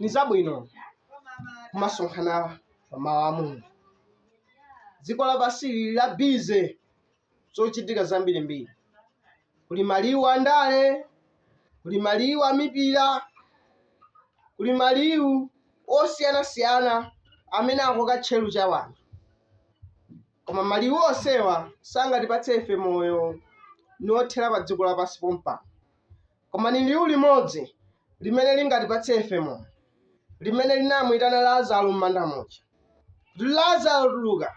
ni zabwino kumasonkhana pa mawu a mulungu dziko lapansi lili la bize zochitika zambirimbiri kuli maliwu a ndale kuli maliwu a mipira kuli maliwu osiyanasiyana amene akoka tcheru cha wanthu koma maliwu onsewa sangatipatse ife moyo niothera pa dziko lapansi pompano Koma ni liu limodzi limene lingatipatse ife moyo, limene linamuitana Lazaro m'manda muja, kuti, Lazaro, tuluka!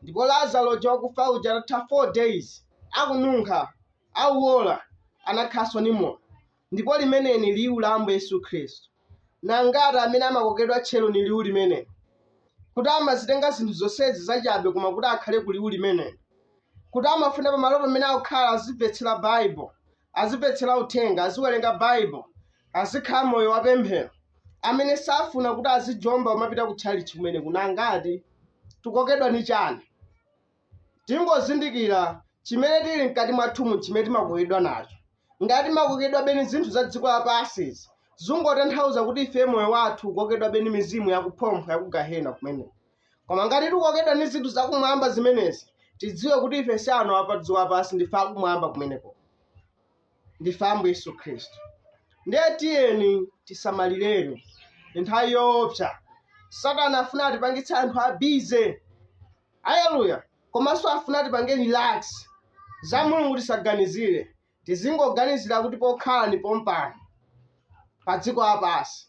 Ndipo Lazaro uja wakufa uja atatha 4 days akununkha, auola, anakhalanso ni moyo. Ndipo limeneli ni liu la Ambuye Yesu Khristu. Ni angati amene amakokedwa tcheru ni liu limeneli, kuti amazitenga zinthu zonsezi zachabe koma kuti akhale ku liu limeneli, kuti amafuna pamalo pamene akukhala azimvetsela Baibo, azimvetsera uthenga aziwerenga baibo azikhala moyo wapemphero amene safuna kuti azijomba umapita ku tchalitchi kumeneko n'angati tikokedwa ni chani tingozindikira chimene tili mkati mwathumu chimene timakokedwa nacho ngati timakokedwabe ni zinthu za dziko lapansizi zungotanthauza kuti ife moyo wathu ukokedwabe ni mizimu yakuphompho yakugahena kumene koma ngati tikokedwa ni zinthu zakumwamba zimenezi tidziwe kuti ife si anthu apadziko lapansi ndife akumwamba kumeneko ndife ambuye yesu khristu ndiye tiyeni tisamalireni ndi nthawi yoopsa satana afuna atipangitse anthu abize aleluya komanso afuna atipange relax za mulungu tisaganizire tizingoganizira kuti pokhala ndi pompano pa dziko lapansi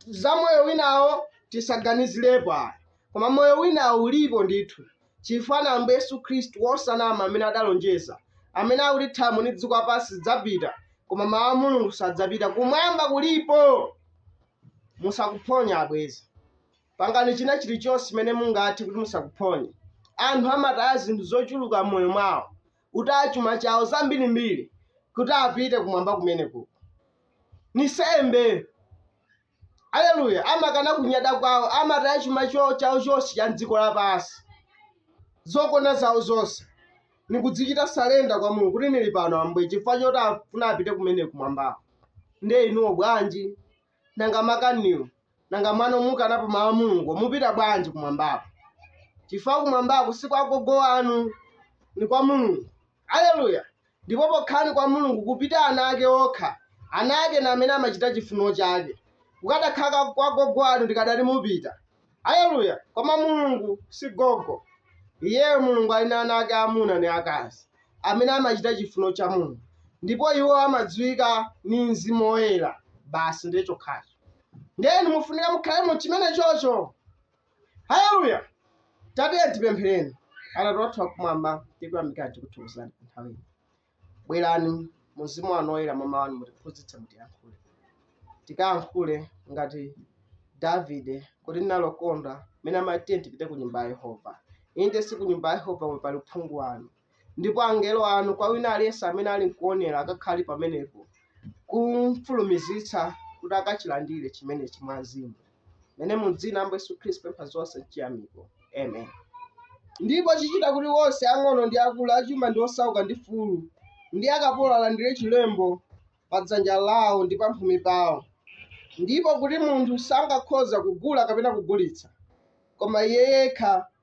za moyo winawo tisaganizirepo ayi koma moyo winawo ulipo ndithu chifukwa n'ambuye yesu khristu wosanama amene adalonjeza amene akuti thambo ndi dziko lapansi zidzapita koma mawu a mulungu sadzapita kumwamba kulipo musakuphonya abwezi pangani china chilichonse chimene mungathe kuti musakuphonye anthu amataya zinthu zochuluka m'moyo mwawo kutaya chuma chawo zambirimbiri kuti apite kumwamba kumeneko ni sembe aleluya amakana kunyada kwawo amataya chuma chawo chonse cha mdziko lapansi zokonda zawo zonse nikudzichita salenda kwa mulungu kuti nili pano ambuye chifukwa choti afuna apite kumene kumwambako nde inuwo bwanji nanga makaniwo nanga mwano mukanapo mawu a mulungu mupita bwanji kumwambako chifukwa kumwambako si kwa gogo wanu ni kwa mulungu aleluya ndipo pokhala ni kwa mulungu kupita ana ake okha ana ake n'amene amachita chifuniro chake kukadakhala kwa gogo wanu ndikadati mupita Haleluya! Koma Mulungu si gogo. Iyeyo Mulungu ali na ana ake amuna ni akazi amene amachita chifuno cha Mulungu, ndipo iwo amadziwika ni Mzimu Woyera basi, ndiye chokhacho. Ndiye inu mufunika mukhale mu chimenechocho. Haleluya! Tatiye tipemphereni. Atate wathu wakumwamba, tikuyamikani tikuthokozani pa nthawi ino. Bwerani, mu Mzimu wanu Woyera, mwa Mawu anu, mutiphunzitse, mutiyankhule. Tikayankhule ngati Davide, kuti ndinakondwa mmene amati tiye tipite ku nyumba ya Yehova. Inde, si ku nyumba ya Yehova komwe pali uphungu wanu. Ndipo angelo anu, kwa wina aliyense amene ali nkuonera, akakhale pamenepo, kumfulumizitsa kuti akachilandire chimenechi mwa mzimu. mene mu dzina la ambuye yesu khristu pempha zonse chiyamiko amen ndipo chichita kuti wonse ang'ono ndi akulu achuma ndi osauka ndi mfulu ndi akapolo alandire chilembo pa dzanja lawo ndi pa mphumi pawo ndipo kuti munthu sangakhoza kugula kapena kugulitsa koma iye yekha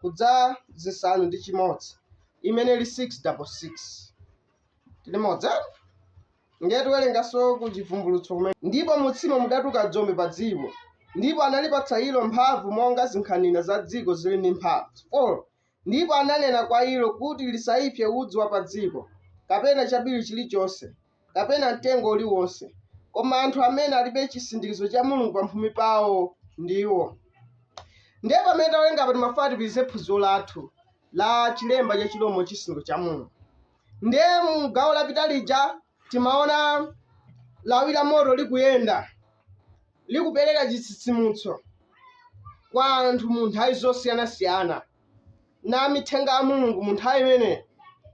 kudza zisanu ndi chimodzi imene ili 6 double 6 tili modzi ndiye tiwerenganso ku chivumbulutso kumene ndipo mutsimo mudatuka dzombe pa dziko ndipo analipatsa ilo mphamvu monga zinkhanira za dziko zili ndi mphamvu 4 ndipo ananena kwa ilo kuti lisaipse udzu wa pa dziko kapena chabiriwiri chilichonse kapena mtengo uliwonse, koma anthu amene alibe chisindikizo cha Mulungu pamphumi pawo ndiwo. Ndiye pamene tawerenga apa timafuna tipitirize phunziro lathu la chilemba cha chilombo chisindikizo cha Mulungu. Ndiye mu gawo lapita lija timaona lawi la moto likuyenda likupereka chitsitsimutso kwa anthu mu nthawi zosiyanasiyana. na amithenga a Mulungu mu nthawi imeneyo,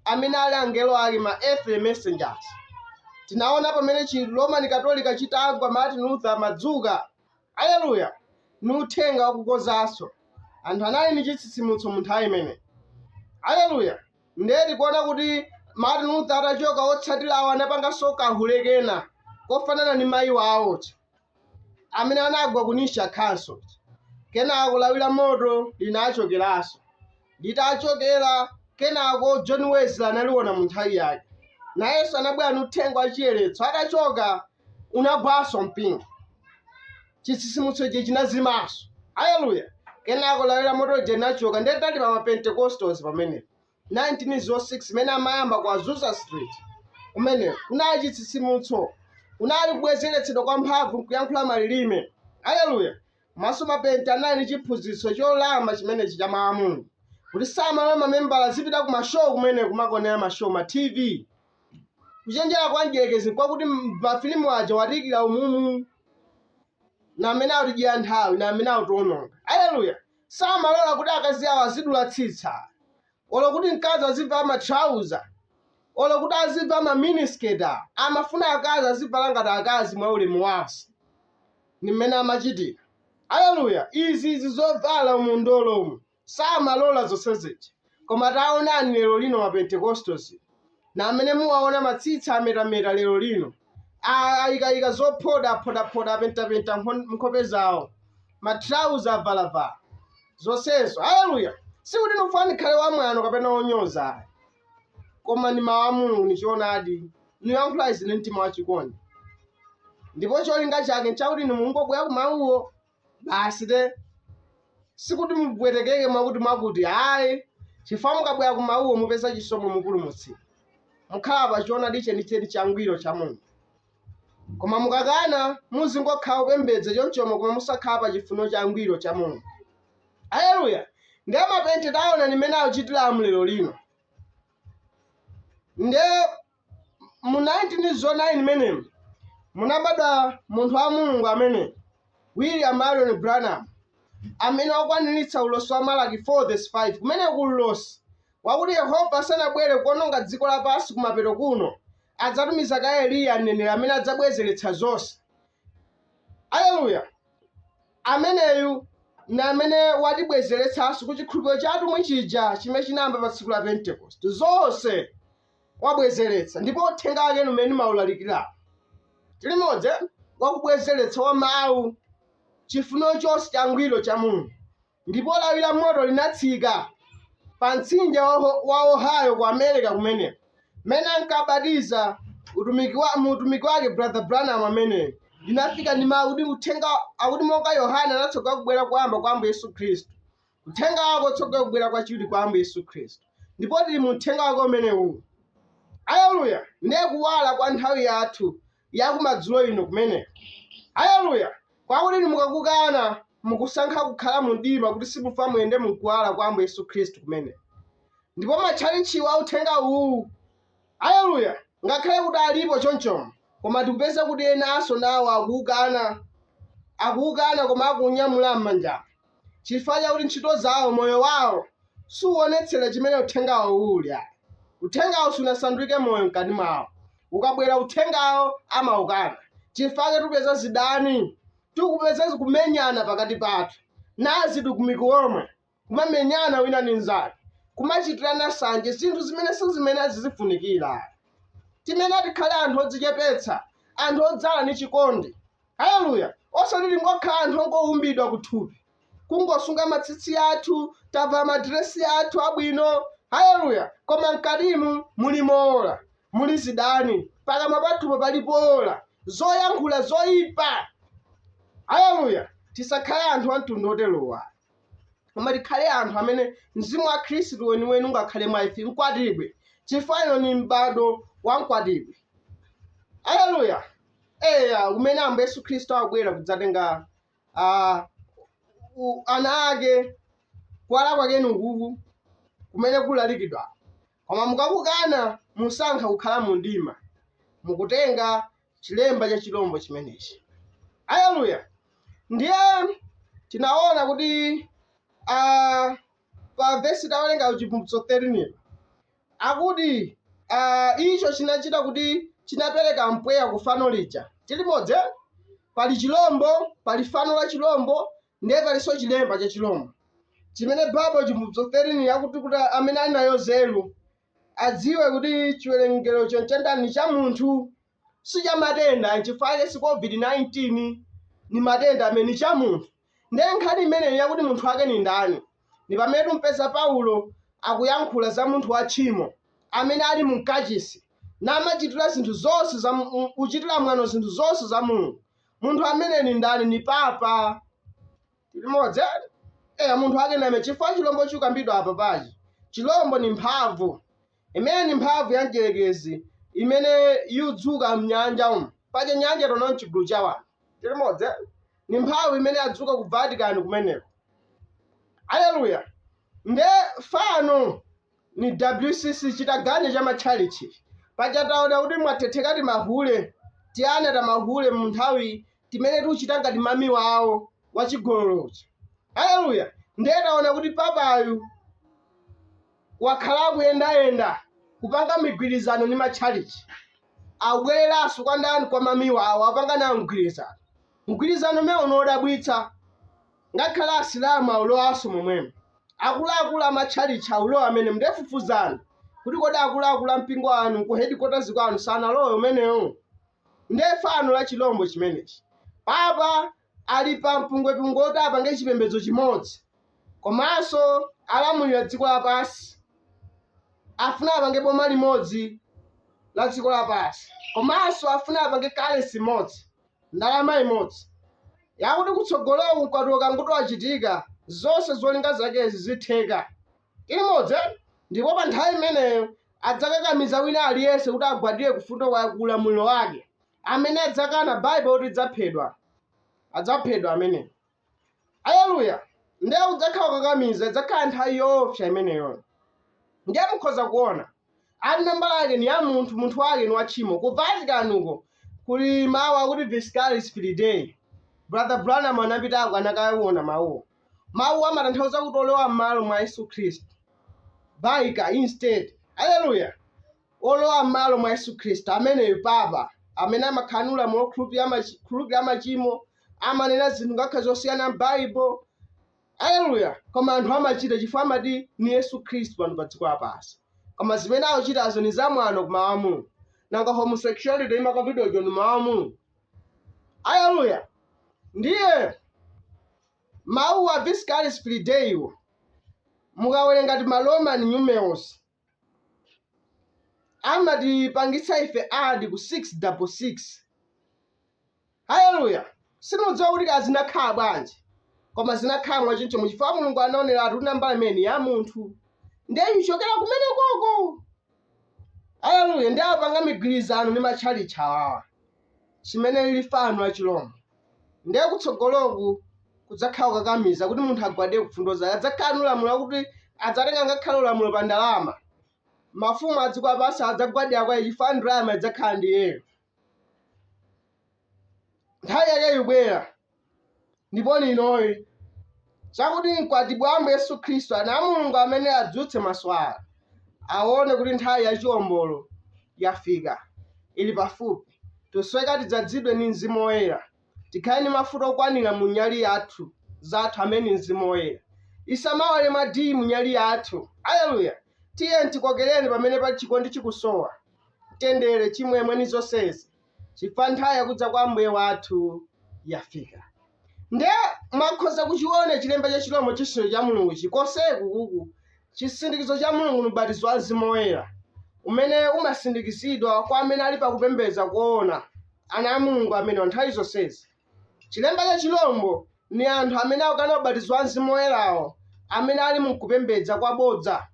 amene ali angelo ake, ma earthly messengers. Tinaona pamene chi Roman Katolika chitagwa, Martin Luther anadzuka, aleluya, ni uthenga wakukonzanso. Anthu anali ni chitsitsimutso mu nthawi imeneyo, aleluya. Ndiye tikuona kuti Martin Luther atachoka, otsatirawo anapanganso kahule kena kofanana ni mayi wawo uja. amene anagwa ku Nicaea Council kenako lawi la moto linachokeranso litachokera kenako John Wesley analiona mu nthawi yake nayenso anabwera ndi uthenga wa chiyeretso atachoka unagwanso mpingo chitsitsimutso ichi chinazimanso aleluya kenako lawi la moto lija linachoka ndiye tili pa mapentekostals pamenepo 1906 imene amayamba kwa Azusa Street kumene kunali chitsitsimutso, kunali kubwezeretsedwa kwa mphamvu m'kuyankhula malilime. Aleluya! Manso mapente anali ndi chiphunzitso cholimba chimenechi cha Mawu a Mulungu, kuti samalola mamembala azipita ku mashow kumene kumakonera mashow ma TV. Kuchenjera kwa mdierekezi kwakuti mafilimu aja watiikira umumu, na amene akutidyera nthawi, na amene akutiononga. Aleluya! samalola kuti akazi awo azidula tsitsa, olo kuti mkazi azivala ma trouser, olo kuti azivala ma miniskirt awa, amafuna akazi azivala ngati akazi mwa ulemu wonse. Ni m'mene amachitira. Aleluya! Izi, izi zovala m'ndolo umu, samalola zonse ziji. Koma taonani lero lino ma Pentecostals na amene muwaona matsitsi ametameta lero lino, aikaika zophoda aphoda phoda apenta penta nkhope zawo, ma trouser avala vala. Zonsezo, Hallelujah! Sikuti nifuna nikhale wa mwano kapena wonyoza ayi, koma ni mawu a Mulungu ni choonadi, niyankhula izi ni mtima wa chikondi. Ndipo cholinga chake nchakuti inu mungobwera ku mawuwo basi te sikuti mupwetekeke mwakuti mwakuti ayi chifukwa mukabwera ku mawuwo mupeza chisomo mupulumutsidwa mukhala pa choonadi chenicheni changwiro cha mulungu koma mukakana muzingokhala kupembedza chonchomo koma musakhala pa chifuniro changwiro cha mulungu aleluya nde mapente taona nimene akuchitira lero lino nde mu 1909 menemu munabadwa munthu wa Mulungu ameneyi William Marion Branham amene wakwaniritsa ulosi wa Malaki 4 5 kumene kuli ulosi wakuti Yehova asanabwere kuononga dziko lapansi kumapeto kuno adzatumiza kaye Eliya mneneri amene adzabwezeretsa zonse aleluya ameneyu na amene watibwezeretsanso ku chikhulupiriro cha atumwi chija chimene chinayamba pa tsiku la pentekoste zonse wabwezeretsa ndipo uthenga wake umene ndimaulalikira tili limodzi wakubwezeretsa wa mawu chifuniro chonse changwiro cha mulungu ndipo lawi la moto linatsika pa mtsinje wa ohio ku america kumene mmene ankabatiza mu utumiki wake brother branham ameneyi linafika ndi mawu kuti uthenga akuti monga yohane anatsogolera kubwera koyamba kwa ambuye yesu khristu uthenga wako utsogolera kubwera kwachiwiri kwa ambuye yesu khristu ndipo tili mu uthenga wake umenewu aleluya ndiye kuwala kwa nthawi yathu yakumadzulo ino kumene aleluya kwakuti inu mukakukana mukusankha kukhala mu mdima kuti simufuna muyende mkuwala kwa ambuye yesu khristu kumene ndipo matchalitchiwa a uthenga uwu aleluya ngakhale kuti alipo chonchomo koma tikupeza kuti enanso nawo akuwukana akuwukana koma akuunyamula m'manja chifukwa chakuti ntchito zawo, moyo wawo, suwonetsera chimene uthengawo uli ayi. Uthengawo sunasanduke moyo mkati mwawo. Ukabwera uthengawo amaukana. Chifukwa chake tikupeza zidani, tikupeza kumenyana pakati pathu. Nawo atumiki omwe kumamenyana wina ndi mnzake, kumachitirana sanje zinthu zimene sizimene zizifunikira. Timene tikhale anthu odzichepetsa, anthu odzala ndi chikondi. Haleluya! Osati tingokhala anthu ongoumbidwa kuthupi, kungosunga matsitsi athu, tavala madiresi athu abwino, haleluya, koma mkatimu muli mowola, muli zidani, pakamwa pathupo pali powola, zoyankhula zoipa. Haleluya! Tisakhale anthu amtundu woterowo ayi, koma tikhale anthu amene mzimu wa Khristu weniweni ungakhale mwa ife, mkwatibwi, chifukwa uno ni m'bado wa mkwatibwi. Haleluya! eya umene ambuye yesu khristu akubwera kudzatenga ah, u- ana ake kuwala kwake nukuku kumene kulalikidwa koma mukakukana musankha kukhala mu mdima mukutenga chilemba cha chilombo chimenechi aleluya ndiye tinaona kuti ah, pa vesi tawerenga kuchivumbulutso 13 ilo Akuti, uh, icho chinachita kuti chinapereka mpweya ku fano lija. Tili limodzi, eh? pali chirombo, pali fano la chirombo, ndiye palinso chilemba cha chirombo chimene Baibulo chivumbulutso 13 akuti kuti amene ali nayo nzeru adziwe kuti chiwerengerocho n'chandani cha munthu si cha matenda nchifukwa chake si covid-19 ni matenda amene ni cha munthu ndiye nkhani imeneyi yakuti munthu wake ni ndani ni pamene timpeza paulo akuyankhula za munthu wa tchimo amene ali mu mkachisi namachitira zinthu zonse za mu- mu- kuchitira mwano zinthu zonse za mulungu munthu amene ni ndani ni papa tili limodzi eya munthu wake name chifukwa chilombo chikambidwa apa pachi chilombo ni mphamvu Imeneyi ni mphamvu ya Mdyelekezi imene yudzuka m'nyanja umu. Paja nyanja taona n'cigulu ca wanthu. Tili limodzi eh? Ni mphamvu imene yadzuka ku Vatican kumeneko. Aleluya! Nde fano ni WCC, citaganya ca machalichi ici. Paja taona kuti mwathetheka ti mahule, tiana tamahule mu nthawi timene tucita ngati mami wawo wacigololo uja. Aleluya! Ndiye taona kuti papayu. wakhala akuyendayenda kupanga migwirizano ndi matchalitchi. Akubwereranso kwa ndani? Kwa mami wawo, akupanga nawo mgwirizano. Mgwirizano umenewo ni wodabwitsa. Ngakhale Asilamu aulowanso momwemo. Akuluakulu a matchalitchi aulowa mmenemo. Ndiye fufuzani kuti kodi akuluakulu a mpingo wanu ku headquarters kwanu sanalowe umenewo? Ndiye fano la chilombo chimenechi. Papa ali pa mpungwepungwe woti apange chipembedzo chimodzi komanso alamulira dziko lapansi afuna apange boma limodzi la dziko lapansi komanso afuna apange currency imodzi ndalama imodzi yakuti kutsogoloku mkwatulo ukangoti wachitika zonse zolinga zakezi zitheka limodzi ndipo pa nthawi imeneyo adzakakamiza wina aliyense kuti agwadire ku mfundo kwa ulamuliro wake amene adzakana Bible ikuti adzaphedwa adzaphedwa amene aleluya ndiye kudzakhala kukakamiza idzakhala nthawi yoofya imeneyo ndiye mukhoza kuona ati nambala yake ni ya munthu munthu wake ni wa tchimo ku vatican uko kuli mawu akuti viscaris filidei brother branham anapitako anakawona mawuwo mawuwo amatanthauza kuti wolowa m'malo mwa yesu khristu vicar instead aleluya Wolowa mmalo mwa Yesu Khristu ameneyu, papa, amene amakhala ni ulamulilo wokhulupilila mac, khululukila macimo, amanena zinthu ngakhale zosiyana m'Baibo, aleluya, koma anthu amacita cifukwa amati ni Yesu Khristu pano pa dziko lapansi. Koma zimene akucitazo ni zamwano ku Mawu a Mulungu. Nanga homosexuality imakambidwa ija ni Mawu a Mulungu? Aleluya! Ndiye mawu a Viscaris Filideiwo mukawelenga ti ma Roman numerals amatipangitsa ife add ku 6 double 6 haleluya sindidziwa kuti kaya zinakhala bwanji koma zinakhala mwachoncho nchifukwa mulungu anaoneratu kuti nambala imene ni ya munthu ndiye ichokera kumenekoko haleluya ndiye apanga migwirizano ni matchalitchi awawa chimene lili fano la chilombo ndiye kutsogoloku kudzakhala kukakamiza kuti munthu agwadire ku mfundo zake adzakhala ni ulamuliro wakuti adzatenga ngakhale ulamuliro pa ndalama mafumu a dziko lapansi adzagwadira kwa iye chifukwa ndalama idzakhala ndi iyeyo nthawi yake ikubwera ndipo ni inoyi chakuti mkwatibwi wa Ambuye Yesu Khristu, ana a Mulungu amene adzutse maso awo, awone kuti nthawi ya chiwombolo yafika, ili pafupi. Tisoweka tidzadzidwe ni Mzimu Woyera, tikhale ni mafuta okwanira mu nyali yathu, zathu, amene ni Mzimu Woyera. Isamawale mwa dii mu nyali yathu. Aleluya! Tiyeni tikokereni pamene pali chikondi chikusowa, mtendere, chimwemwe, ni zonsezi. chifukwa nthawi yakudza kwa Ambuye wathu yafika. Nde mwakhoza kuchiona chilemba cha chilombo chisindikizo cha Mulungu chi koseku kuku chisindikizo cha Mulungu ni ubatizo wa Mzimu Woyera umene umasindikizidwa kwa amene ali pakupembedza koona ana a Mulungu amene nthawi zonsezi. Chilemba cha chilombo ni anthu amene akukana ubatizo wa Mzimu Woyera'wo amene ali mu kupembedza kwabodza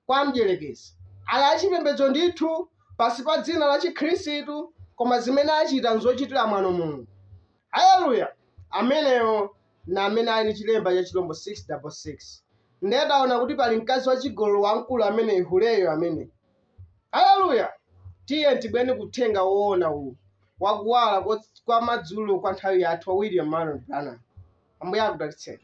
kwa Mdyerekezi. Ali achipembedzo ndithu, pansi pa dzina la Chikhristu, koma zimene achita n'zochitira mwano Mulungu. Aleluya! Amenewo ni amene ali ni chilemba cha chilombo 666. Ndiye taona kuti pali mkazi wachigololo wamkulu amene'yu, huleyo, amene. Aleluya! Tiyeni tibwere ku Uthenga woona uwu, wa Kuwala kwa madzulo kwa nthawi yathu, wa William Marrion Branham. Ambuye akudalitseni.